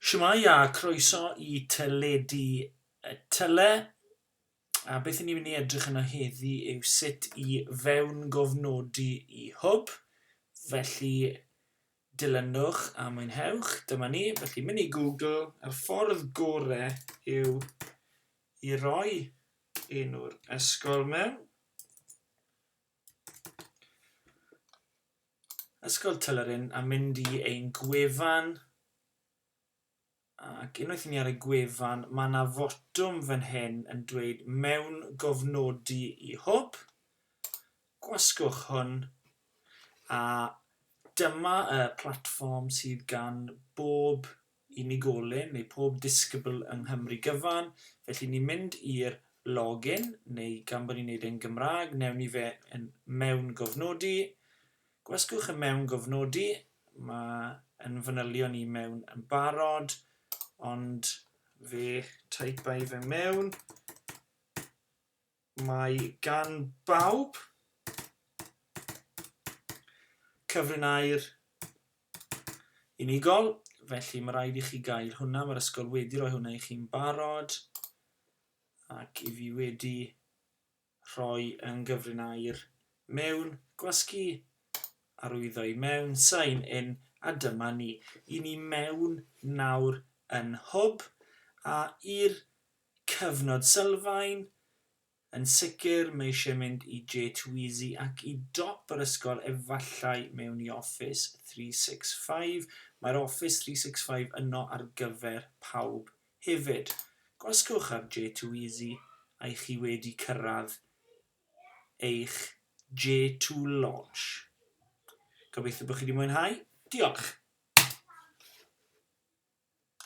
Shwmae a croeso i Teledu Tyle a beth i ni'n mynd i edrych yno heddi yw sut i fewn gofnodi i hwb felly dilynwch a mwynhewch dyma ni felly mynd i Google y ffordd gore yw i roi enw'r ysgol mewn Ysgol Tyleryn a mynd i ein gwefan ac unwaith i ni ar y gwefan mae yna fotwm fan hyn yn dweud mewn gofnodi i hwb gwasgwch hwn a dyma y platfform sydd gan bob unigolyn neu pob disgybl yng Nghymru gyfan, felly ni'n mynd i'r login, neu gan bod ni'n neud e'n Gymraeg, newn ni fe yn mewngofnodi, gwasgwch y mewngofnodi, mae yn fanylion i mewn yn barod, ond fe taipa i fe mewn, Mae gan bawb cyfrin air unigol, felly mae rhaid i chi gael hwnna. Mae'r ysgol wedi rhoi hwnna i chi'n barod ac i fi wedi rhoi yn gyfrin air mewn gwasgu arwyddo i mewn, sign in, a dyma ni. I ni mewn nawr yn hwb a i'r Cyfnod sylfaen, yn sicr, mae eisiau mynd i J2EZ ac i dop yr ysgol efallai mewn i Office 365, mae'r Office 365 yno ar gyfer pawb hefyd. Gwasgwch ar J2EZ a'i chi wedi cyrraedd eich J2 launch. Gobeithio bod chi wedi mwynhau. Diolch!